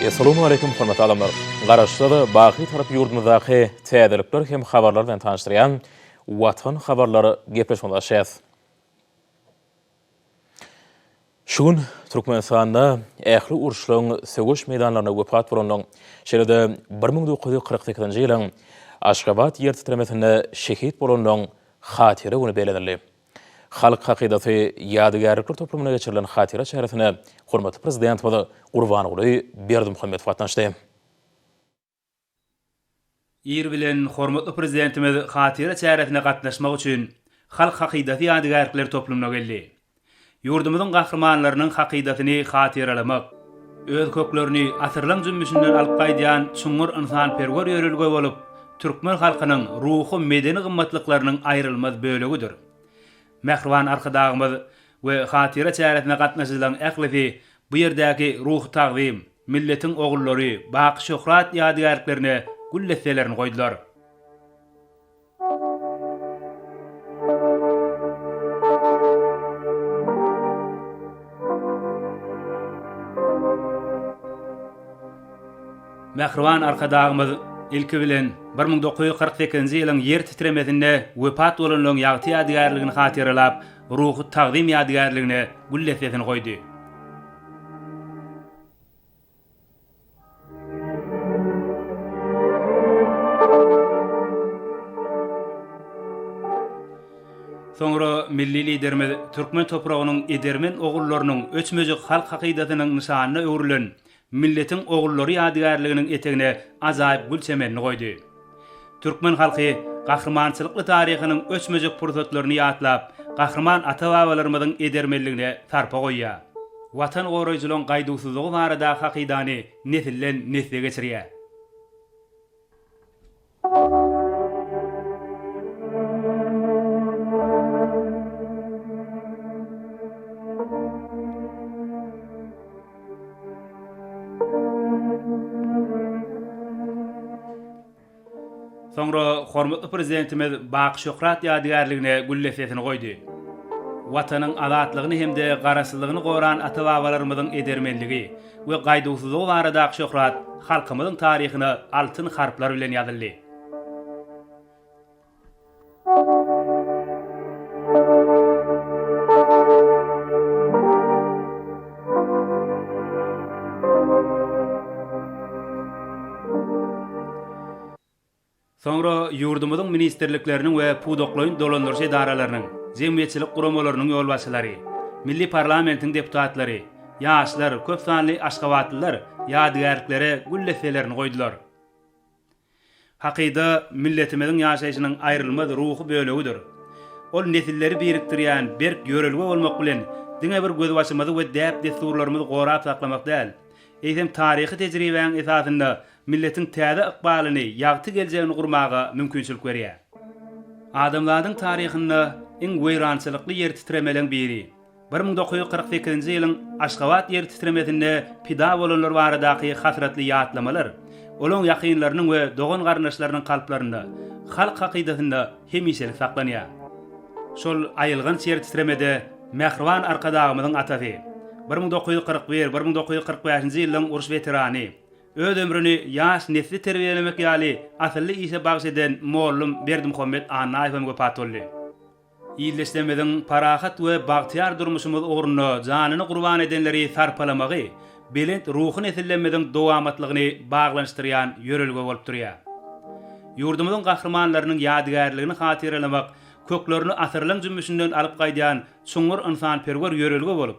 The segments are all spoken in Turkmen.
Essalamu Aleýkum hormatly adamlar! Garaşsyz, baky Türk ýurdumyzdaky täzelikler hem habarlar bilen tanyşdyrýan Watan habarlar gepleşigine başlaýas. Şu gün Türkmenistanda ähli uruşlaryň söweş meýdanlarynda wepat bolanlaryň, şeýle-de bir müň dokuz ýüz kyrk sekizinji ýylyň Aşgabat ýertitremesinde şehit bolanlaryň Hatyra güni bellenildi. Halk hakydasy ýadygärlikler toplumynda geçirilen hatyra çäresine hormatly Prezidentimiz Gurbanguly Berdimuhamedow gatnaşdy. Ir bilen hormatly Prezidentimiz hatyra çäresine gatnaşmak üçin Halk hakydasy ýadygärlikler toplumyna geldi. Ýurdumyzyň gahrymanlarynyň hakydasyny hatyralamak, öz köklerini asyrlaň jümmüşinden alyp gaýdýan çuňňur ynsanperwer ýörelge bolup, türkmen halkynyň ruhy-medeni gymmatlyklarynyň aýrylmaz bölegidir. Mähriban Arkadagymyz we hatyra çäresine gatnaşyjylaryň ählisi bu ýerdäki Ruhy tagzym, Milletiň ogullary, Baky şöhrat ýadygärliklerine gül desselerini goýdular. Mähriban Arkadagymyz ilki bilen bir müň dokuz ýüz kyrk sekizinji ýylyň ýer titremesinde wepat bolanlaryň ýagty ýadygärligini hatyralap, ruhy tagzym ýadygärligine gül dessesini goýdy. Soňra milli Liderimiz türkmen topragynyň edermen ogullarynyň öçmejek halk hakydasynyň nyşanyna öwrülen Milletiň ogullary ýadygärliginiň etegine ajaýyp gül çemenini goýdy. Türkmen halky gahrymançylykly taryhynyň öçmejek pursatlaryny ýatlap, gahryman ata-babalarymyzyň edermenligine sarpa goýýar. Watan goraýjylygyň gaýduwsyzlygy barada hakydany nesilden nesle geçirýär. Soňra hormatly Prezidentimiz Baky Şöhrat ýadygärligine gül desesini goýdy. Watanyň azatlygyny hem-de Garaşsyzlygyny goran ata-babalarymyzyň edermenligi we gaýduwsyzlygy baradaky şöhrat halkymyzyň taryhyna altyn harplar bilen ýazyldy. Soňra ýurdumyzyň ministrlikleriniň we pudaklaýyn dolandyryş edaralarynyň, jemgyýetçilik guramalarynyň ýolbaşçylary, milli parlamentiň deputatlary, ýaşlar, köp sanly aşgabatlylar ýadygärliklere gül desselerini goýdular. Hakyda milletimiziň ýaşaýşynyň aýrylmaz ruhy bölegidir. Ol nesilleri birikdirýän berk ýörelge bolmak bilen, diňe bir gözbaşymyzy we däp-dessurlarymyzy gorap saklamak däl, eýsem, taryhy tejribäň esasynda milletiň täze ykbalyny, ýagty geljegini gurmaga mümkinçilik berýär. Adamzadyň taryhynda iň weýrançylykly ýertitremeleň biri, Bir müň dokuz ýüz kyrk sekizinji ýylyň Aşgabat ýer titremesinde pida bolanlar baradaky hasratly ýatlamalar olaň ýakynlarynyň we dogan-garyndaşlarynyň kalplarynda, halk hakydasynda hemişelik saklanýar. Şol aýylganç ýer titremede mähriban Arkadagymyzyň atasy, bir müň dokuz ýüz kyrk bir, bir müň dokuz ýüz kyrk bäşinji ýyllaryň uruş weterany, öz ömrüni ýaş nesli terbiýelemek ýaly asylly işe bagyş eden mollum Berdimuhammet Annaýewem wepat boldy. Ildeşlerimiziň parahat we bagtyýar durmuşymyz ugrunda janyny gurban edenleri sarpalamagy belent ruhy nesillerimiziň dowamatlygyny baglanyşdyrýan ýörelge bolup durýar. Ýurdumyzyň gahrymanlarynyň ýadygärligini hatyralamak köklerini asyrlaň jümmüşinden alyp gaýdýan çuňňur ynsanperwer ýörelge bolup,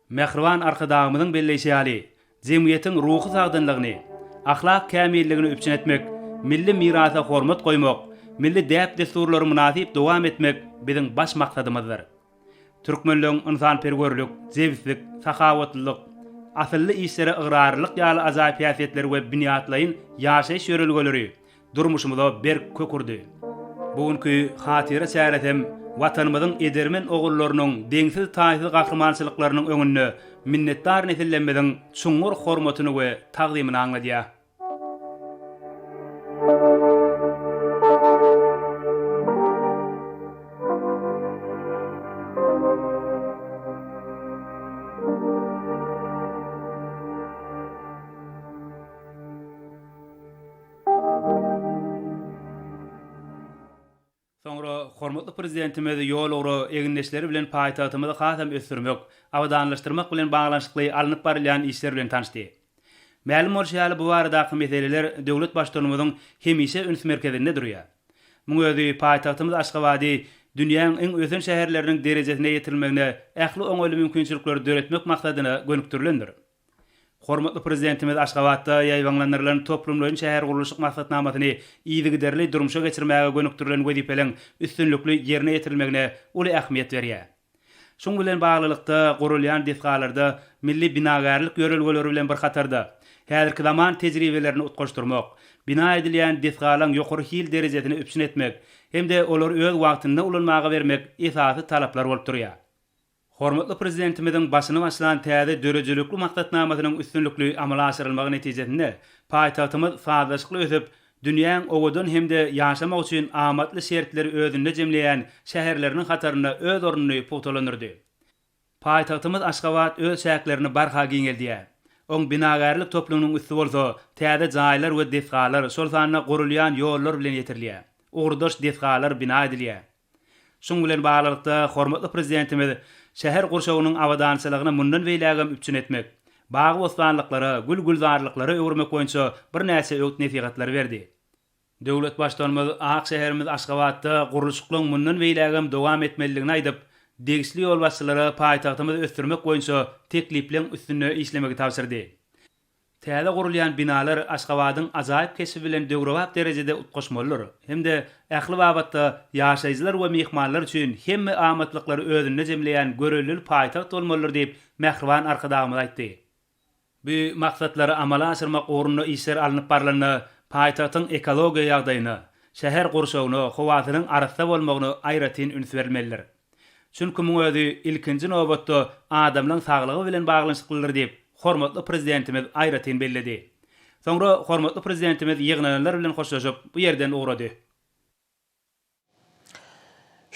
Mähriban Arkadagymyzyň belleýşi ýaly, jemgyýetiň ruhy sagdynlygyny, ahlak kämilligini üpjün etmek, milli mirasa hormat goýmak, milli däp-dessurlary mynasyp dowam etmek biziň baş maksadymyzdyr. Türkmenligiň ynsanperwerlik, jebislik, sahawatlylyk, asylly işlere ygrarlylyk ýaly ajaýyp häsiýetleri we binýatlaýyn ýaşaýyş ýörelgeleri durmuşymyza berk kök urdy. Bu günki hatyra çäresem Watanymyzyň edermen ogullarynyň deňsiz-taýsyz gahrymançylyklarynyň öňünde minnetdar nesillerimiziň çuňňur hormatyny we tagzymyny aňladýar. Soňra hormatly Prezidentimiz ýol-ugra egindeşleri bilen paýtagtymyzy hasam ösdürmek, abadanlaşdyrmak bilen baglanyşykly alnyp barylýan işler bilen tanyşdy. Mälim bolşy ýaly, bu baradaky meseleler döwlet Baştutanymyzyň hemişe üns merkezinde durýar. Muň özi paýtagtymyz Aşgabady dünýäň iň ösen şäherleriniň derejesine ýetirilmegine ähli oňaýly mümkinçilikleri döretmek maksadyna gönükdirilendir. Hormatly Prezidentimiz Aşgabatda ýaýbaňlandyrylan toplumlaýyn şähergurluşyk maksatnamasyny yzygiderli durmuşa geçirmäge gönükdirilen wezipeleriň üstünlikli ýerine ýetirilmegine uly ähmiýet berýär. Şuň bilen baglylykda, gurulýan desgalarda milli binagärlik ýörelgeleri bilen bir hatarda, häzirki zaman tejribelerini utgaşdyrmak, bina edilýän desgalaryň ýokary hil derejesini üpjün etmek hem-de olary öz wagtynda ulanmaga bermek esasy talaplar bolup durýar. Hormatly Prezidentimiziň başyny başlan täze döredijilikli maksatnamasynyň üstünlikli amala aşyrylmagy netijesinde paýtagtymyz sazlaşykly ösüp, dünýäň owadan hem-de ýaşamak üçin amatly şertleri özünde jemleýän şäherleriniň hatarynda öz ornuny pugtalandyrdy. Paýtagtymyz Aşgabat öz çäklerini barha giňeldýär. Oň binagärlik toplumynyň üsti bolsa täze jaýlar we desgalar, şol sanda gurulýan ýollar bilen ýetirilýär. Ugurdaş desgalar bina edilýär. Şunuň bilen baglylykda, hormatly Prezidentimiz şäher gurşawynyň abadançylygyny mundan beýlägem üpjün etmek, bagy-bossanlyklara, gül-gülzarlyklara öwürmek boýunça birnäçe öwüt-nesihatlary berdi. Döwlet Baştutanymyz ak şäherimiz Aşgabatda gurluşyklaryň mundan beýlägem dowam etmelidigini aýdyp, degişli ýolbaşçylara paýtagtymyzy ösdürmek boýunça teklipleň üstünde işlemegi tabşyrdy. Täze gurulýan binalar Aşgabadyň ajaýyp keşbi bilen döwrebap derejede utgaşmalydyr hem-de ähli babatda ýaşaýjylar we myhmanlar üçin hemme amatlyklary özünde jemleýän görellili paýtagt bolmalydyr diýip, mähriban Arkadagymyz aýtdy. Bu maksatlary amala aşyrmak ugrunda işler alnyp barylanda, paýtagtyň ekologiýa ýagdaýyna, şäher gurşawyna, howasynyň arassa bolmagyna aýratyn üns berilmelidir. Çünki muň özi ilkinji nobatda adamlaň saglygy bilen baglanyşyklydyr diýip, hormatly Prezidentimiz aýratyn belledi. Soňra hormatly Prezidentimiz ýygnananlar bilen hoşlaşyp, bu ýerden ugrady.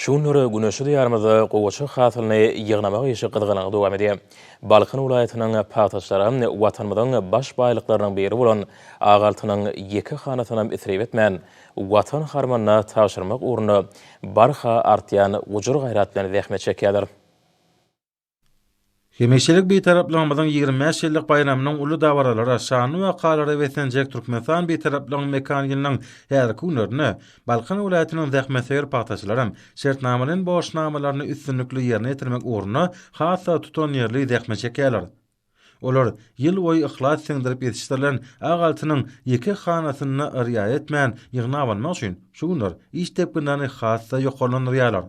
Şu günler güneşli Diýarymyzda gowaça hasylyny ýygnamak işi gyzgalaňly dowam edýär. Balkan welaýatynyň pagtaçylary Watanymyzyň baş baýlyklarynyň biri bolan Ak altynyň ýeke hanasynam isrip etmän, Watan harmanyna tabşyrmak ugrunda barha artýan gujur-gaýrat bilen zähmet çekýärler. Hemişelik Bitaraplygymyzyň ýigrimi bäş ýyllyk baýramynyň uly dabaralara, şanly wakalara beslenjek Türkmenistan Bitaraplygynyň mekan ýylynyň häzirki günlerinde Balkan welaýatynyň zähmetsöýer pagtaçylaram şertnamalaýyn borçnamalaryny üstünlikli ýerine ýetirmek ugrunda has-da tutanýerli zähmet çekýärler. Olar ýylboýy yhlas siňdirip ýetişdirilen ak altynyň ýeke hanasyny-da yrýa etmän ýygnap almak üçin şu günler iş depginlerini has-da ýokarlandyrýarlar.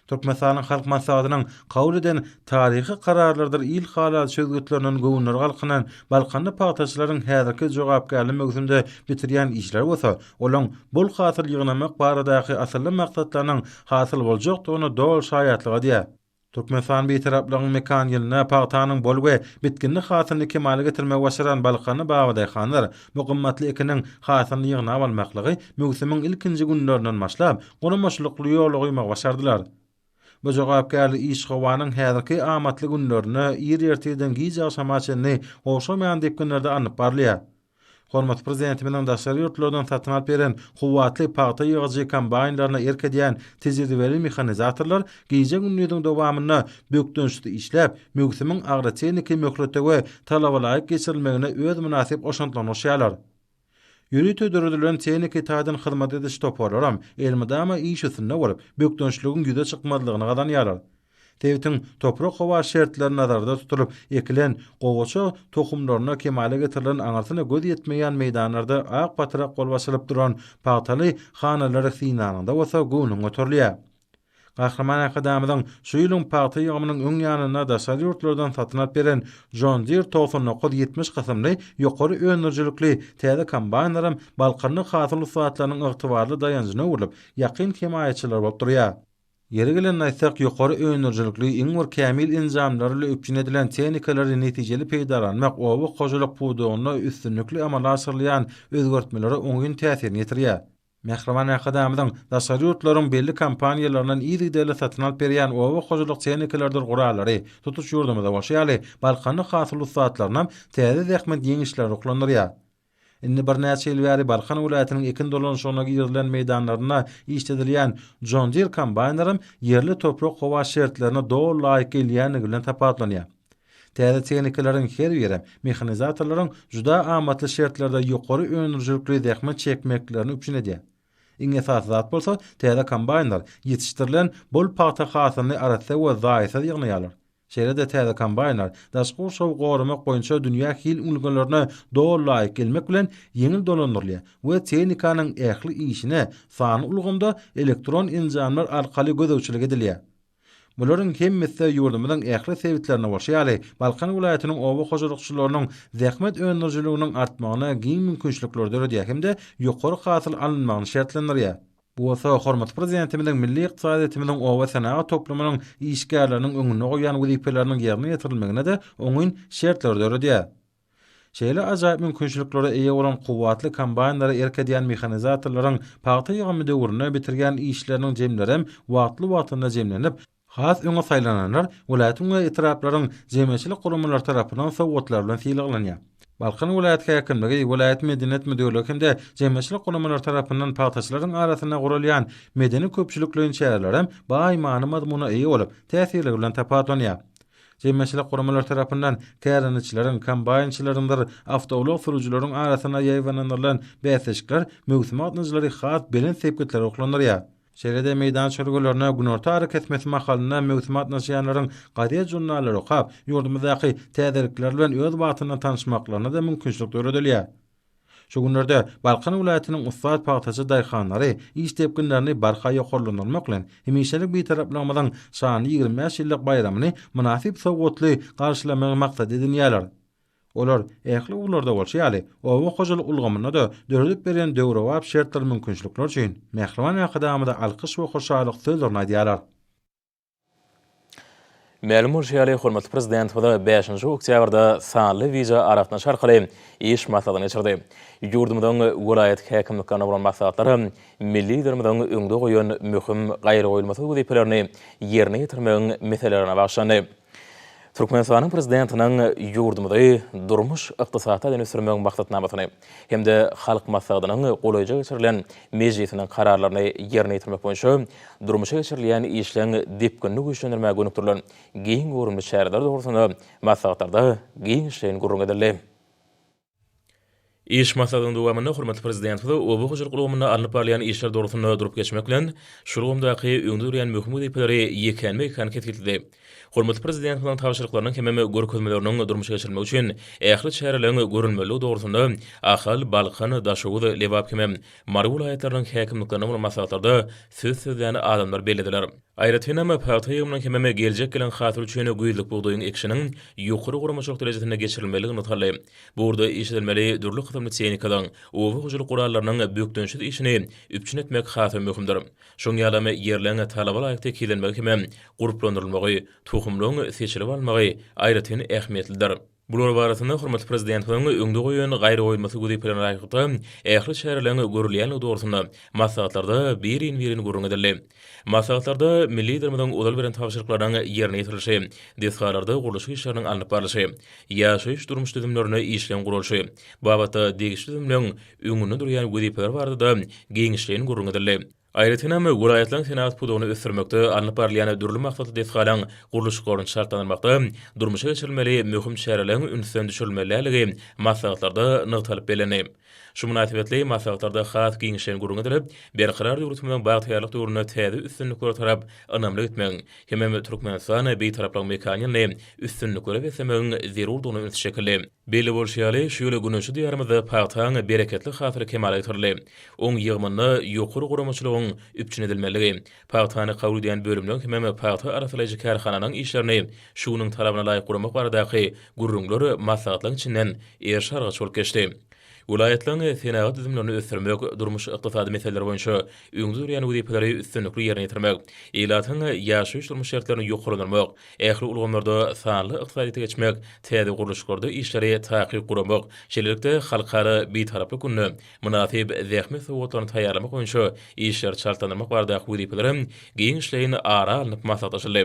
Türkmenistanyň Halk Maslahatynyň kabul eden taryhy kararlarydyr il halalçy çözgütlerinden göwünleri galkynan balkanly pagtaçylaryň häzirki jogapkärli möwsümde bitirýän işleri bolsa olaň bol hasyl ýygnamak baradaky asylly maksatlarynyň hasyl boljakdygyna doly şaýatlyk edýär. Türkmenistan Bitaraplygyň mekan ýylynda pagtanyň bol we bitginli hasylyny kemala getirmegi başaran balkanly babadaýhanlar bu gymmatly ekiniň hasylyny ýygnap almaklygy möwsümiň ilkinji günlerinden başlap, guramaçylykly ýola goýmagy başardylar. Bu jogapkärli iş howanyň häzirki amatly günlerinde ir ertirden gijagşama çenli gowşamaýan depginlerde alnyp barylýar. Hormatly Prezidentimiziň daşary ýurtlardan satyn alyp beren kuwwatly pagta ýygyjy kombaýnlaryna erk edýän tejribeli mehanizatorlar gije-gündiziň dowamynda bökdençsiz işläp, möwsümiň agrotehniki möhlete we talabalaýyk geçirilmegine öz mynasyp goşantlaryny goşýarlar. Ýörite döredilen tehniki taýdan hyzmat ediş toparlaram elmydama iş üstünde bolup, bökdençligiň ýüze çykmazlygyny gazanýarlar. Sebitiň toprak-howa şertleri nazarda tutulyp ekilen gowaça tohumlaryna kemala getirilen aňyrsyna göz ýetmeýän meýdanlarda ak patrak bolup açylyp duran pagtaly hanalary synlanyňda bolsa göwnüň göterilýär. Gahryman Arkadagymyzyň şu ýylyň pagta ýygymynyň öň ýanynda daşary ýurtlardan satyn alyp beren John Deere togsan dokuz ýetmiş kysymly ýokary öndürijilikli täze kombaýnlaram balkanly hasyl ussatlarynyň ygtybarly daýanjyna öwrülip, ýakyn hemaýatçylary bolup durýar. Ýeri gelende aýtsak, ýokary öndürijilikli, iň bir kämil enjamlar bilen üpjün edilen tehnikalary netijeli peýdalanmak oba hojalyk pudagynda üstünlikli amala aşyrylýan özgertmelere oňyn täsirini ýetirýär. Mähriban Arkadagymyzyň daşary ýurtlaryň belli kompaniýalaryndan yzygiderli satyn alyp berýän oba hojalyk tehnikalarydyr gurallary tutuş ýurdumyzda bolşy ýaly, balkanly hasyl ussatlarynam täze zähmet ýeňişleri ruhlandyrýar. Indi birnäçe ýyl bäri Balkan welaýatynyň ekin dolanyşygyna girizilen meýdanlarynda işledilýän John Deere kombaýnlaram ýerli toprak-howa şertlerine doly laýyk gelýändigi bilen tapawutlanýar. Täze tehnikalaryň her birem mehanizatorlaryň juda amatly şertlerde ýokary öndürijilikli zähmet çekmeklerini üpjün edýär. Iň esasy zat bolsa täze kombaýnlar ýetişdirilen bol pagta hasylyny arassa we zaýasyz ýygnaýarlar. Şeýle-de täze kombaýnlar daşky gurşawy goramak boýunça dünýä hil ulgalarna doly laýyk gelmek bilen ýeňil dolandyrylýar we tehnikanyň ähli işine sanly ulgamda elektron enjamlar arkaly gözegçilik edilýär. Bularyň hemmesi-de ýurdumyzyň ähli sebitlerinde bolşy ýaly, Balkan welaýatynyň oba hojalykçylarynyň zähmet öndürijiliginiň artmagyna giň mümkinçilikleri döredýär hem-de ýokary hasyl alynmagyny şertlendirýär. Bu bolsa hormatly Prezidentimiziň milli ykdysadyýetimiziň obasenagat toplumynyň işgärleriniň öňünde goýan wezipeleriniň ýerine ýetirilmegine-de oňyn şertleri döredýär. Şeýle ajaýyp mümkinçiliklere eýe bolan kuwwatly kombaýnlara erk edýän mehanizatorlaryň pagta ýygymy döwründe bitirýän işleriniň jemlerem wagtly-wagtynda jemlenip, Has öňe saýlananlar welaýatyň we etraplaryň jemgyýetçilik guramalary tarapyndan sowgatlar bilen sylaglanýar. Balkan welaýat häkimligi, welaýat medeniýet müdirligi hem-de jemgyýetçilik guramalary tarapyndan pagtaçylaryň arasynda guralýan medeni-köpçülikleýin çärelerem baý many-mazmuna eýe bolup, täsirligi bilen tapawutlanýar. Jemgyýetçilik guramalary tarapyndan kärendeçileriň, kombaýnçylaryňdyr awtoulag sürüjileriň arasynda ýaýbalandyrlan bäsleşikler möwsümi gatnaýjylary has belent sepgitlere ruhlandyrýar. Şeýle-de meýdan çözgülerine günorta arakesmesi mahalynda möwsüme gatnaşýanlaryň gazet-žurnallary okap, ýurdumyzdaky täzelikler bilen öz wagtynda tanyşmaklaryna-da mümkinçilik döredilýär. Şu günlerde Balkan welaýatynyň ussat pagtaçy daýhanlary iş depginlerini barha ýokarlandyrmak bilen, hemişelik Bitaraplygymyzyň şanly ýigrimi bäş ýyllyk baýramyny mynasyp sowgatly garşylamagy maksat edinýärler. Olar, ähli ugurlarda bolşy ýaly, oba hojalyk ulgamynda-da döredip berýän döwrebap şertler mümkinçilikler üçin mähriban Arkadagymyza alkyş we hoşallyk sözlerini aýdýarlar. Mälim bolşy ýaly, hormatly Prezidentimiz bäşinji oktýabrda sanly wideo aragatnaşyk arkaly iş maslahatyny geçirdi. Ýurdumyzyň welaýat häkimliklerine bolan maslahatlar hem milli Liderimiziň öňde goýan möhüm, gaýragoýulmasyz wezipelerini ýerine ýetirmegiň meselelerine bagyşlandy. Türkmenistanyň Prezidentiniň ýurdumyzy durmuş-ykdysady taýdan ösdürmegiň maksatnamasyny hem-de Halk Maslahatynyň golaýja geçirilen mejlisiniň kararlaryny ýerine ýetirmek boýunça durmuşa geçirilýän işleň depginini güýçlendirmäge gönükdirilen giň göwrümli çäreler dogrusynda maslahatlarda giňişleýin gürrüň edildi. Iş maslahatynyň dowamynda hormatly Prezidentimiz oba hojalyk ulgamynda alnyp barylýan işler dogrusynda durup geçmek bilen, şu ulgamdaky öňde durýan möhüm wezipeleri ýekänme-ýekän kesgitledi. Hormatly Prezidentimiziň tabşyryklarynyň hemem görkezmeleriniň durmuşa geçirilmegi üçin ähli çäreleriň görülmelidigi dogrusynda Ahal, Balkan, Daşoguz, Lebap hemem Mary welaýatlarynyň häkimliklerine bolan maslahatlarda söz sözlän adamlar bellediler. Aýratynam, pagta ýygymynyň hemem geljek gelen hasyl üçin güýzlük bugdaýyň ekişiniň ýokary guramaçylyk derejesinde geçirilmezligi nygtaldy. Bu ugurda iş edilmeli dürli kysymly tehnikalaryň, oba hojalyk gurallarynyň bökdençsiz işini üpjün etmek has-da möhümdir. Şoň ýalam, ýerleň talaba laýyk tekizlenmegi hemem gurplandyrylmagy, tohumlaryň seçilip alynmagy aýratyn ähmiýetlidir. Bular barasynda hormatly Prezidentimiziň öňde goýan gaýragoýulmasy wezipelere laýyklykda ähli çäreleriň görülýändigi dogrusynda maslahatlarda birin-birin gürrüň edildi. Maslahatlarda milli Liderimiziň ozal beren tabşyryklarynyň ýerine ýetirilişi, desgalarda gurluşyk işleriniň alnyp barlyşy, ýaşaýyş-durmuş düzümlerini işjeň guralyşy babatda degişli düzümleň öňünde durýan wezipeler barada-da giňişleýin gürrüň edildi. Aýratyn hem, welaýatlaryň senagat pudagyny ösdürmekde alnyp barylýan dürli maksatly desgalaryň gurluşyklaryny çaltlandyrmakda durmuşa geçirilmeli möhüm çäreleriň ünsden düşürilmeliligi maslahatlarda nygtalyp bellendi. Şu mynasybetli maslahatlarda has giňişleýin gürrüň edilip, Berkarar döwletimiziň bagtyýarlyk döwründe täze üstünliklere tarap ynamly gitmegiň hemem Türkmenistany Bitaraplyk mekany ýaly üstünliklere beslemegiň zerurdygyna üns çekildi. Belli bolşy ýaly, şu ýyl Güneşli Diýarymyzda pagtaň bereketli hasyly kemala getirildi. Oň ýygymynda ýokary guramaçylygyň üpjün edilmeligi, pagtany kabul edýän bölümleň hemem pagta arassalaýjy kärhananyň işlerini şu günüň talabyna laýyk guramak baradaky gürrüňler maslahatlaryň içinden eriş-argaç bolup geçdi. Welaýatlaryň senagat düzümlerini ösdürmek, durmuş-ykdysady meseleler boýunça öňde durýan wezipeleri üstünlikli ýerine ýetirmek, ilatyň ýaşaýyş-durmuş şertlerini ýokarlandyrmak, ähli ulgamlarda sanly ykdysadyýete geçmek, täze gurluşyklarda işleri takyk guramak, şeýlelikde Halkara Bitaraplyk gününe mynasyp zähmet sowgatlaryny taýýarlamak boýunça işleri çaltlandyrmak baradaky wezipeler hem giňişleýin ara alnyp maslahatlaşyldy.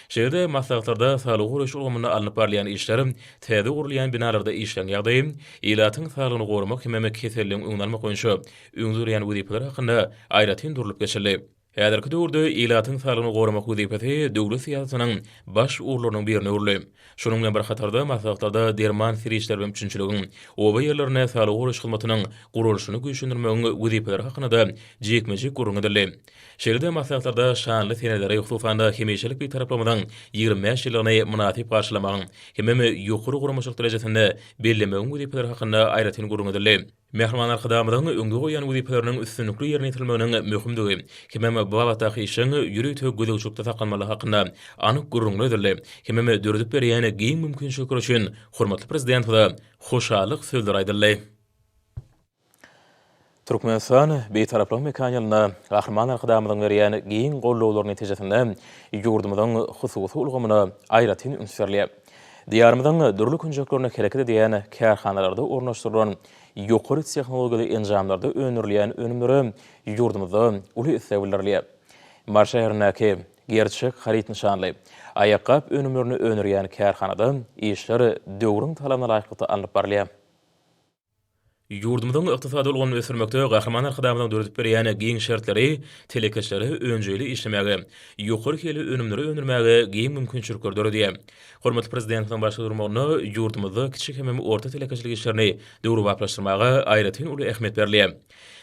Şeýle-de maslahatlarda saglygy goraýyş ulgamynda alnyp barylýan işler, täze gurulýan binalarda işleriň ýagdaýy, ilatyň saglygyny goramak hemem keselligiň öňüni almak boýunça öňde durýan wezipeler hakynda aýratyn durlup geçildi. Häzirki döwürde ilatyň saglygyny goramak wezipesi döwlet syýasatynyň baş ugurlarynyň birine öwrüldi. Şunuň bilen bir hatarda, maslahatlarda derman serişdeleri bilen üpjünçiligiň, oba ýerlerinde saglygy goraýyş hyzmatynyň guralyşyny güýçlendirmegiň wezipeleri hakynda-da jikme-jik gürrüň edildi. Şeýle-de maslahatlarda şanly seneleri, hususan-da, hemişelik Bitaraplygyňyzyň ýigrimi bäş ýyllygyny mynasyp garşylamagyň hemem ýokary guramaçylyk derejesinde bellemegiň wezipeleri hakynda aýratyn gürrüň edildi. Mähriban Arkadagymyzyň öňde goýan wezipeleriniň üstünlikli ýerine ýetirilmeginiň möhümdigi hemem bu babatdaky işiň ýörite gözegçilikde saklanmalygy hakynda anyk gürrüňler edildi hemem döredip berýän giň mümkinçilikler üçin hormatly Prezidentimize hoşallyk sözleri aýdyldy. Türkmenistan Bitaraplygyň mekany ýylynda Gahryman Arkadagymyzyň berýän giň gollawlary netijesinde ýurdumyzyň hususy ulgamyna aýratyn üns berilýär. Diýarymyzyň dürli künjeklerinde hereket edýän kärhanalarda ornaşdyrylan ýokary tehnologiýaly enjamlarda öndürilýän önümlere ýurdumyzda uly isleg bildirilýär. Mary şäherindäki Gerçek haryt nyşanly aýakgap önümlerini öndürýän kärhanada işler döwrüň talabyna laýyklykda alnyp barylýar. Ýurdumyzyň ykdysady ulgamyny ösdürmekde Gahryman Arkadagymyzyň döredip berýän giň şertleri telekeçilere önjeýli işlemäge, ýokary hilli önümleri öndürmäge giň mümkinçilikleri döredýär. Hormatly Prezidentimiziň başda durmagynda ýurdumyzda kiçi hemem orta telekeçilik işlerini döwrebaplaşdyrmaga aýratyn uly ähmiýet berilýär.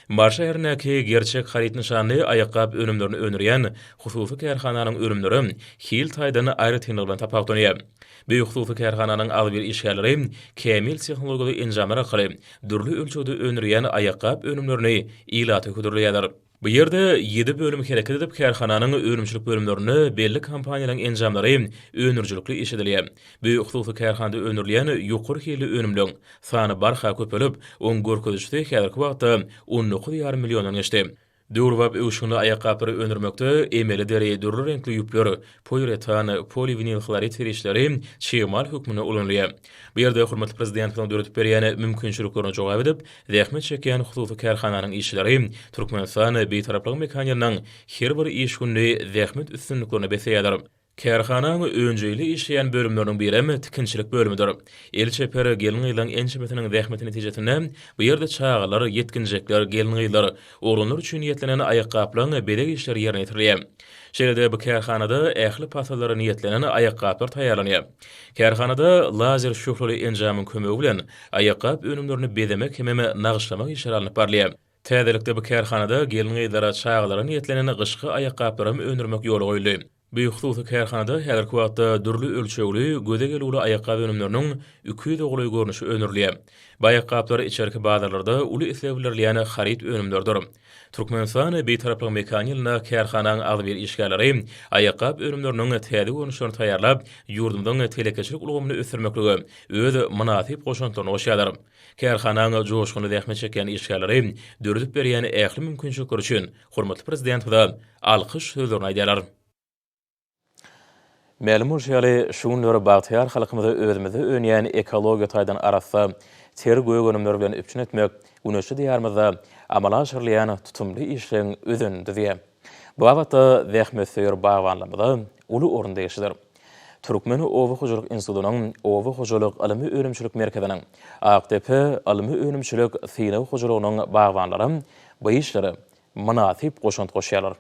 Mary şäherindäki Gerçek haryt nyşanly aýakgap önümlerini öndürýän hususy kärhananyň önümleri hil taýdan aýratynlygy bilen tapawutlanýar. Bu hususy kärhananyň agzybir işgärleri kämil tehnologiýaly enjamlar arkaly dürli ölçegde öndürilýän aýakgap önümlerini ilata hödürleýärler. Bu ýerde ýedi bölüm hereket edip, kärhananyň önümçilik bölümlerinde belli kompaniýalaryň enjamlary öndürijilikli işledilýär. Bu hususy kärhanada öndürilýän ýokary hilli önümleň sany barha köpelip, oň görkezijisi häzirki wagtda on dokuz ýarym milliondan geçdi. Döwrebap öwüşginli aýakgaplary öndürmekde emeli deri, dürli reňkli ýüpler, poliuretan, poliwinilhlorid serişdeleri çig mal hökmünde ulanylýar. Bu ýerde hormatly Prezidentimiziň döredip berýän mümkinçiliklerine jogap edip, zähmet çekýän hususy kärhananyň işçileri Türkmenistan Bitaraplygyň mekanynyň her bir iş günli zähmet üstünliklerine besleýärler. Kärhanaň önjeýli işleýän bölümleriniň birem tikinçilik bölümidir. El çeper gelin-gyzlaryň ençemesiniň zähmeti netijesinde bu ýerde çagalar, ýetginjekler, gelin-gyzlar, oglanlar üçin niýetlenen aýakgaplaryň bezeg işleri ýerine ýetirilýär. Şeýle-de bu kärhanada ähli pasllara niýetlenen aýakgaplar taýýarlanýar. Kärhanada lazer şöhleli enjamyň kömegi bilen aýakgap önümlerini bezemek hemem nagyşlamak işleri alnyp barylýar. Täzelikde bu kärhanada gelin-gyzlara, çagalara niýetlenen gyşky aýakgaplaram öndürmek ýola goýuldy. Bu hususy kärhanada häzirki wagtda dürli ölçegli, göze gelüwli aýakgap önümleriniň iki ýüze golaý görnüşi öndürilýär. Bu aýakgaplar içerki bazarlarda uly isleg bildirilýän haryt önümleridir. Türkmenistan Bitaraplygyň mekany ýylynda kärhanaň agzybir işgärleri aýakgap önümleriniň täze görnüşlerini taýýarlap, ýurdumyzyň telekeçilik ulgamyny ösdürmeklige öz mynasyp goşantlaryny goşýarlar. Kärhanaň joşgunly zähmet çekýän işgärleri döredip berýän ähli mümkinçilikler üçin hormatly Prezidentimize alkyş sözlerini aýdýarlar. Mälim bolşy ýaly, şu günler bagtyýar halkymyzy özümizde önýän ekologiýa taýdan arassa, ter gök önümler bilen üpjün etmek güneşli Diýarymyzda amala aşyrylýan tutumly işleň özenini düzýär. Bu babatda zähmetsöýer bagbanlarymyza uly orunda eşidir. Türkmen oba hojalyk institutynyň Oba hojalyk ylmy-önümçilik merkeziniň Akdepe ylmy-önümçilik synag hojalygynyň bagbanlary bu işlere mynasyp goşant goşýarlar.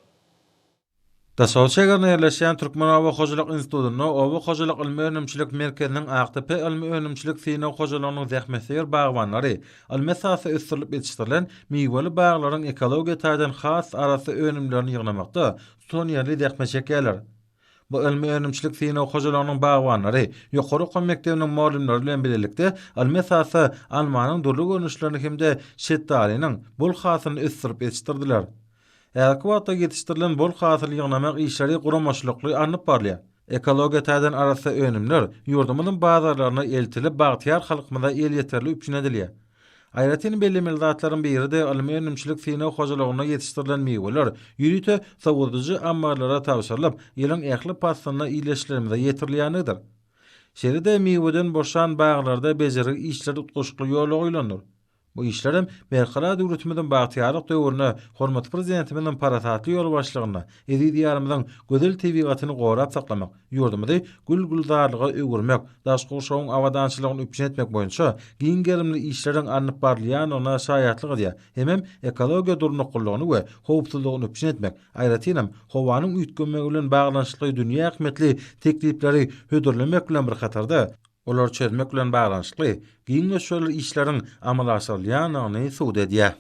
Daşoguz şägerinde ýerleşýän Türkmen oba hojalyk institutynda Oba hojalyk ylmy-önümçilik merkeziniň Akdepe ylmy-önümçilik synag hojalygynyň zähmetsöýer bagbanlary ylmy esasda ösdürilip ýetişdirilen miweli baglaryň ekologiýa taýdan has arassa önümlerini ýygnamakda tutanýerli zähmet çekýärler. Bu ylmy-önümçilik synag hojalygynyň bagbanlary, ýokary okuw mekdebiniň mugallymlary bilen bilelikde ylmy esasda almanyň dürli görnüşlerini hem-de şetdalynyň bol hasylyny ösdürip ýetişdirdiler. Häzirki wagtda ýetişdirilen bol hasyly ýygnamak işleri guramaçylykly alnyp barylýar. Ekologiýa taýdan arassa önümler ýurdumyzyň bazarlaryna eltilip, bagtyýar halkymyza elýeterli üpjün edilýär. Aýratyn bellemeli zatlaryň biri-de ylmy-önümçilik synag hojalygynda ýetişdirilen miweler ýörite sowadyjy ammarlara tabşyrylyp, ýylyň ähli paslynda ildeşlerimize ýetirilýändigidir. Şeýle-de miweden boşan baglarda bejergi işleri utgaşykly ýola goýlandyr. Bu işler hem Berkarar döwletimiziň bagtyýarlyk döwründe hormatly Prezidentimiziň parasatly ýolbaşçylygynda eziz Diýarymyzyň gözel tebigatyny gorap saklamak, ýurdumyzy gül-gülzarlyga öwürmek, daş gurşawyň abadançylygyny üpjün etmek boýunça giň gerimli işleriň alnyp barylýandygyna şaýatlyk edýär hemem ekologiýa durnuklylygyny we howpsuzlygyny üpjün etmek, aýratynam, howanyň üýtgemegi bilen baglanyşykly dünýä ähmiýetli teklipleri hödürlemek bilen bir hatarda, olary çözmek bilen baglanyşykly giň möçberli işleriň amala aşyrylýandygyny subut edýär.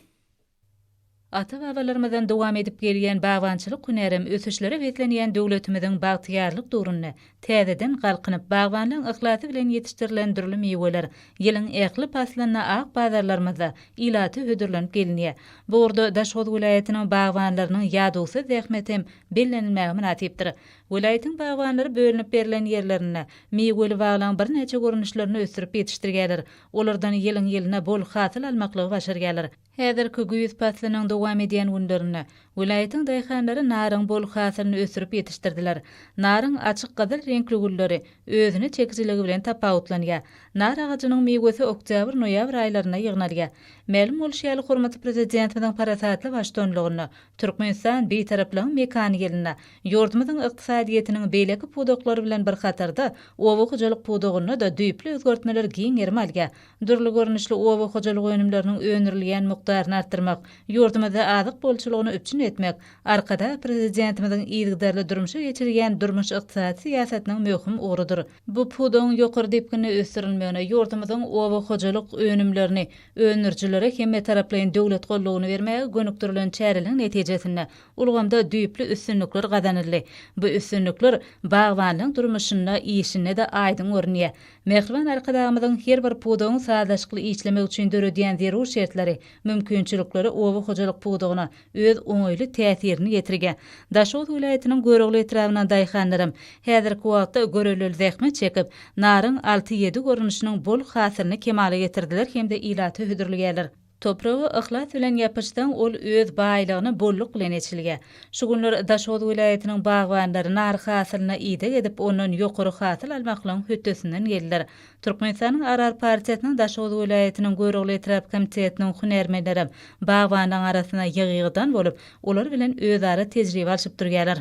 Ata-babalarymyzdan dowam edip gelýän bagbançylyk hünärem ösüşlere beslenýän döwletimiziň bagtyýarlyk döwründe täzeden galkynyp, bagbanlaň yhlasy bilen ýetişdirilen dürli miweler ýylyň ähli paslynda ak bazarlarymyzda ilata hödürlenip gelinýär. Bu ugurda Daşoguz welaýatynyň bagbanlarynyň ýadawsyz zähmeti hem bellenilmäge mynasypdyr. Welaýatyň bagbanlary bölünip berlen ýerlerinde miweli baglaň birnäçe görnüşlerini ösdürip ýetişdirýärler. Olardan ýylyň-ýylyna bol hasyl almaklygy başarýarlar. Häzirki güýz paslynyň dowam edýän günlerinde welaýatyň daýhanlary naryň bol hasylyny ösdürip ýetişdirdiler. Naryň açyk gyzyl reňkli gülleri özüne çekijiligi bilen tapawutlanýar. Nar agajynyň miwesi oktýabr-noýabr aýlarynda ýygnalýar. Mälim bolşy ýaly, hormatly Prezidentimiziň parasatly baştuanlygynda Türkmenistan Bitaraplygyň mekany ýylynda ýurdumyzyň ykdysadyýetiniň beýleki pudaklary bilen bir hatarda, oba hojalyk pudagynda-da düýpli özgertmeler giň gerim alýar. Dürli görnüşli oba hojalyk önümleriniň öndürilýän mukdaryny artdyrmak, ýurdumyzda azyk bolçulygyny üpjün etmek Arkadag Prezidentimiziň yzygiderli durmuşa geçirýän durmuş-ykdysady syýasatynyň möhüm ugrudyr. Bu pudagyň ýokary depginde ösdürilmegine, ýurdumyzyň oba hojalyk önümlerini öndürijilere hemmetaraplaýyn döwlet goldawyny bermäge gönükdirilen çäreleriň netijesinde, ulgamda düýpli üstünlikler gazanyldy. Bu üstünlikler bagbanlygyň durmuşynda, işinde-de aýdyň görünýär. Mähriban Arkadagymyzyň her bir pudagyň sazlaşykly işlemegi üçin döredýän zerur şertleri, mümkinçilikleri oba hojalyk pudagyna, öz oňaýly täsirini ýetirge. Daşoguz welaýatynyň Görogly etrabynyň daýhanlaram häzirki wagtda görellil zähmet çekip, naryň alty-ýedi görnüşiniň bol hasylyny kemala getirdiler hem-de ilata hödürlgýärler. Topraga yhlas bilen ýapyşsaň, ol öz baýlygyny bolluk bilen eçilge. Şu günler Daşoguz welaýatynyň bagbanlary nar hasylyna ideg edip, ondan ýokary hasyl almaklygyň hötdesinden geldiler. Türkmenistanyň Arar partiýasynyň Daşoguz welaýatynyň Görogly etrap komitetiniň hünärmenleri bagbanlaryň arasynda ýygy-ýygydan bolup, olar bilen özara tejribe alşyp durýarlar.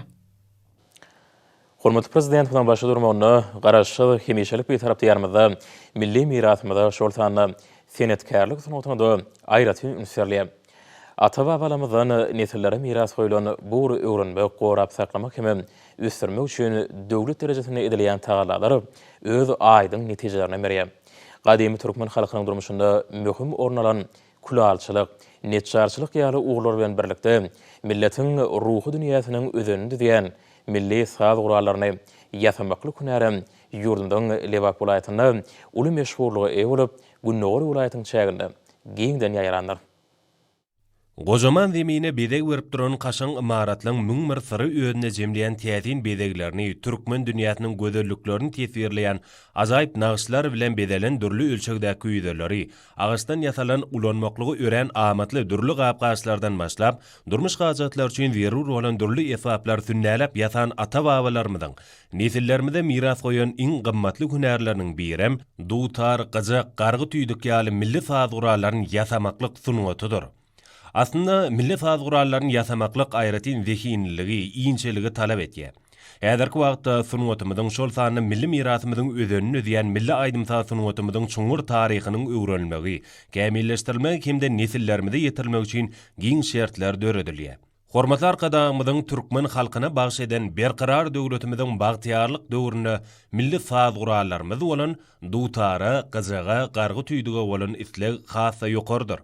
Hormatly Prezidentimiziň başda durmagynda Garaşsyz, hemişelik Bitarap Diýarymyzda milli mirasymyza, şol sanda senetkärlik sungatyna-da aýratyn üns berilýär. Ata-babalarymyzdan nesillere miras goýlan bu ugry öwrenmek, gorap saklamak hem-ä ösdürmek üçin döwlet derejesinde edilýän tagallalar öz aýdyň netijelerini berýär. Gadymy türkmen halkynyň durmuşynda möhüm orun alan külalçylyk, neçjarçylyk ýaly ugurlar bilen birlikde, milletiň ruhy dünýäsiniň özenini düzýän milli saz gurallaryny ýasamaklyk hünärem ýurdumyzyň Lebap welaýatynda uly meşhurlyga eýe bolup, gündogar welaýatyň çäginde giňden ýaýrandyr. Gojaman Zemine bezeg berip duran kaşaň ymaratlaň müň bir syry özünde jemleýän täsin bezeglerini, türkmen dünýäsiniň gözelliklerini teswirleýän ajaýyp nagyşlar bilen bezelen dürli ölçegdäki ýüzeleri, agaçdan ýasalan ulanmaklygy örän amatly dürli gap-gaçlardan başlap, durmuş hajatlary üçin zerur bolan dürli esbaplar sünnäläp ýasan ata-babalarymyzyň Nesillerimize miras goýan iň gymmatly hünärleriniň birem dutar, gyjak, gargy-tüýdük ýaly milli saz gurallaryny ýasamaklyk sungatydyr. Aslynda, milli saz gurallaryny ýasamaklyk aýratyn zehinliligi, inçeligi talap edýär. Häzirki wagtda sungatymyzyň, şol sanda milli mirasymyzyň özenini düzýän milli aýdym-saz sungatymyzyň çuňňur taryhynyň öwrenilmegi, kämilleşdirilmegi hem-de nesillerimize ýetirilmegi üçin giň şertler döredilýär. Hormatly Arkadagymyzyň türkmen halkyna bagyş eden Berkarar döwletimiziň bagtyýarlyk döwründe milli saz gurallarymyz bolan dutara, gyjaga, gargy tüýdüge bolan isleg has-da ýokarydyr.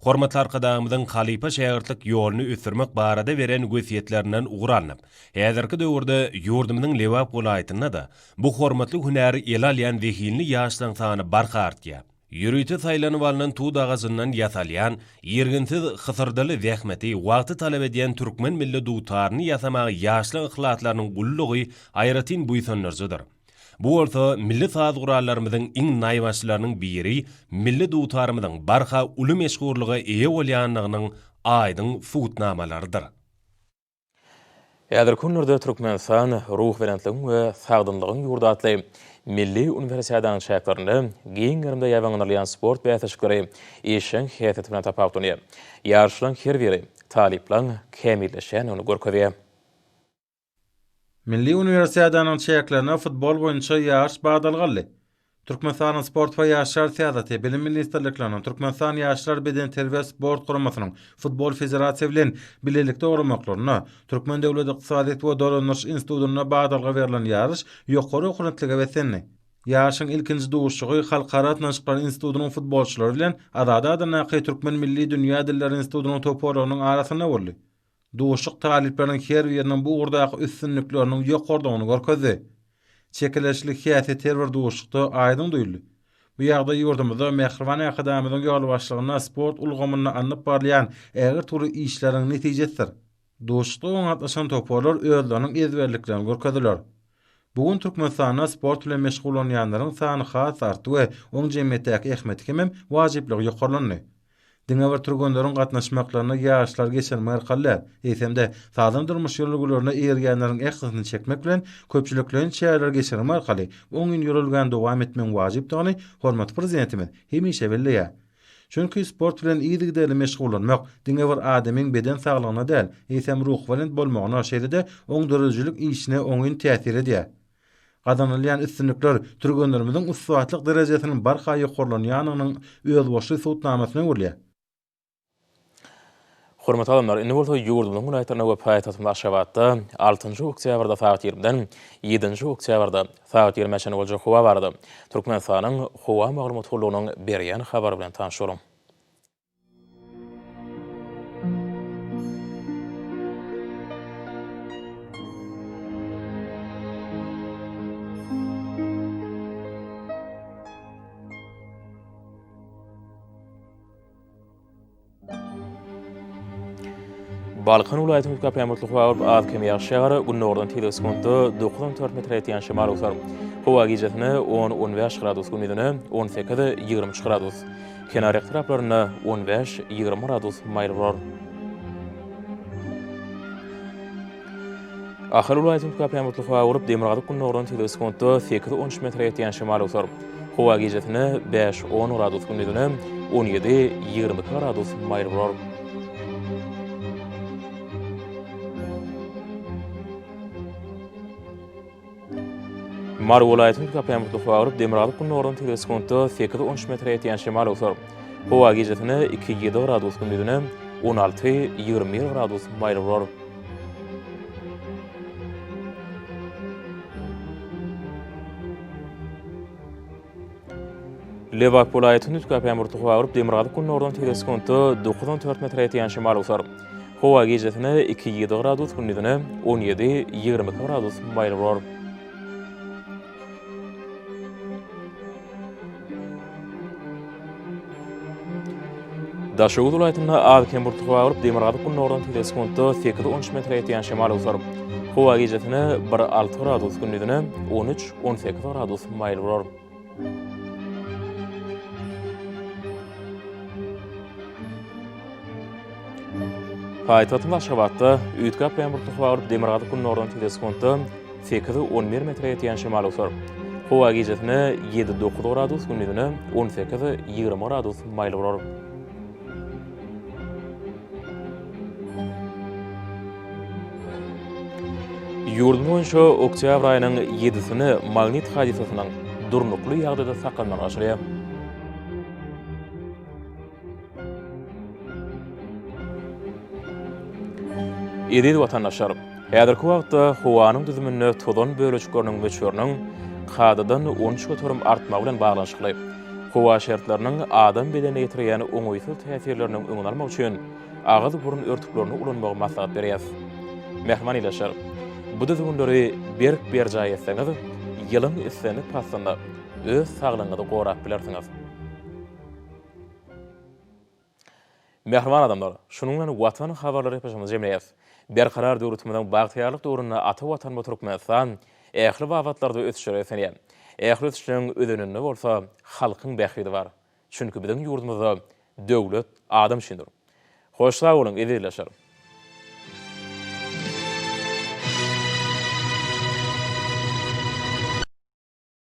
Hormatly Arkadagymyzyň halypa-şägirtlik ýoluny ösdürmek barada beren wesýetlerinden ugur alnyp, häzirki döwürde ýurdumyzyň Lebap welaýatynda-da bu hormatly hünäri ele alýan zehinli ýaşlaryň sany barha artýar. Ýörite saýlanyp alnan tut agajyndan ýasalýan, irginsiz, hysyrdyly zähmeti, wagty talap edýän türkmen milli dutaryny ýasamagy ýaşlyk yhlaslarynyň gullugy aýratyn buýsandyryjydyr. Bu bolsa milli saz gurallarymyzyň iň naýbaşylarynyň biri, milli dutarymyzyň barha uly meşhurlyga eýe bolýandygynyň aýdyň subutnamalarydyr. Häzirki günlerde Türkmenistan Ruhubelentligiň we sagdynlygyň ýurdy atly milli uniwersiadanyň çäklerinde giň gerimde ýaýbaňlanylýan sport bäsleşikleri işjeň häsiýeti bilen tapawutlanýar. Ýaryşlaryň her biri talyplaryň kämilleşýändigini görkezýär. Milli uniwersiadanyň çäklerinde futbol boýunça ýaryş badalga aldy. Türkmenistanyň Sport we ýaşlar syýasaty, Bilim ministrlikleriniň, Türkmenistan Ýaşlar bedenterbiýe sport guramasynyň Futbol federasiýa bilen bilelikde guramaklarynda, Türkmen döwlet ykdysadyýet we dolandyryş institutynda badalga berlen ýaryş ýokary okunutlyga beslendi. Ýaryşyň ilkinji duşuşygy Halkara gatnaşyklary institutynyň futbolçylary bilen Azady adyndaky Türkmen milli dünýä dilleri institutynyň toparlarynyň arasynda boldy. Duşuşyk talyplaryň her biriniň bu ugurdaky üstünlikleriniň ýokarydygyny görkezdi. Çekeleşikli häsiýet her bir duşuşykda aýdyň duýuldy. Bu ýagdaý ýurdumyzda mähriban Arkadagymyzyň ýolbaşçylygynda sport ulgamynda alnyp barylýan ägirt uly işleriň netijesidir. Duşuşyga oňa gatnaşan toparlar özleriniň ezberliklerini görkezdiler. Bu gün Türkmenistanda sport bilen meşgullanýanlaryň sany has artdy we oň jemgyýetdäki ähmiýeti hemem wajyplygy ýokarlandy. Diňe bir türgenleriň gatnaşmaklaryna ýaşlary geçirmek arkaly däl, eýsem-de, sagdyn durmuş ýörelgelerine eýerýänleriň ählisini çekmek bilen, köpçülikleýin çäreleri geçirmek arkaly oňyn ýörelgäni dowam etmegiň wajypdygyny hormatly Prezidentimiz hemişe belleýär. Çünki sport bilen yzygiderli meşgullanmak diňe bir adamyň beden saglygyna däl, eýsem ruhubelent bolmagyna, şeýle-de oň döredijilik işine oňyn täsir edýär. Gazanylýan üstünlikler türgenlerimiziň ussatlyk derejesiniň barha ýokarlanýandygynyň özboluşly subutnamasyna öwrülýär. Hormatly alymlar, indi bolsa ýurdumyzyň welaýatlarynda we paýtagtymyz Aşgabatda altynjy oktýabrda sagat ýigrimiden ýedinji oktýabrda sagat ýigrime çenli boljak howa barada Türkmenistanyň Howa maglumat gullugynyň berýän habary bilen tanyşalyň. Balkan welaýatynyň köplenç mutly howa bolup, az-kem ýagyş ýagar, gündogardan tizlik sekuntda dokuz on dört metre ýetýän şemal öwser. Howa gijesi on on bäş gradus, gündiz on sekiz ýigrimi üç gradus. Kenar etraplarynda on bäş, ýigrimi gradus maýyl bolar. Ahal welaýatynda käpä mutly howa bolup, demirgazyk gündogardan segsen sekuntda sekiz, on üç metre ýetýän şemal öwser. Howa gijesine bäş, on gradus, gündizine on ýedi, ýigrimi iki gradus maýyl bolar. Mary welaýatynyň Köpemurtly Howagryp Demirgazyk gündogaryna tirde sekuntda sekiz on üç metre ýetýän şemal öwser. Howa gijesine iki ýedi gradus, gündizine on alty ýigrimi bir gradus maýyl bolar. Lebap welaýat hünüs käpemurty howa urup, demirgazyk günordan tigre sekuntda dokuz on dört metre ýetýän şemal usar. Howa gijesine iki ýedi gradus, gündizine on ýedi, ýigrimi iki gradus maýyl bolar. Daşoguz welaýatynda az-kem burçluk howa bolup, demirgazyk gündogardan tizek sekuntda sekiz-on üç metre ýetýän şemal öwser. Howa gijesine bir alty gradus, gündizine on üç, on sekiz gradus maýyl bolar. Paýtagtymyz Aşgabatda üýtgäp gaýan burçluk howa bolup, demirgazyk gündogardan tizek sekuntda Sekiz, on bir metre ýetýän şemal usar. Howa gijesine ýedi, dokuz gradus, gündizine on sekiz, ýigrimi gradus maýyl bolar. Ýurdumyz boýunça oktýabr aýynyň ýedisini magnit hadysasynyň durnukly ýagdaýda saklanmagy başarýar. Eziz watandaşlar! Häzirki wagtda howanyň düzüminde tozan bölejikleriniň möçberiniň kadadan on üç göterim artmagy bilen baglanyşykly, howa şertleriniň adam bedenine ýetirýän oňaýsyz täsirleriniň öňüni almak üçin agyz-burun örtüklerini ulanmagy maslahat berýäs. Mähriban ildeşler! Bu düzgünleri berk berjaý etseňiz, ýylyň islendik paslynda öz saglygyňyzy gorap bilersiňiz. Mähriban adamlar, şunuň bilen Watan habarlary epoçamyzy jemleýäs. Berkarar döwletimiziň bagtyýarlyk döwründe ata Watanymyz Türkmenistan ähli babatlarda ösüşe beslenýär. Ähli ösüşleriň özeninde bolsa halkyň bähbidi bar. Çünki biziň ýurdumyzda döwlet adam üçindir. Hoş sag boluň, eziz ildeşler!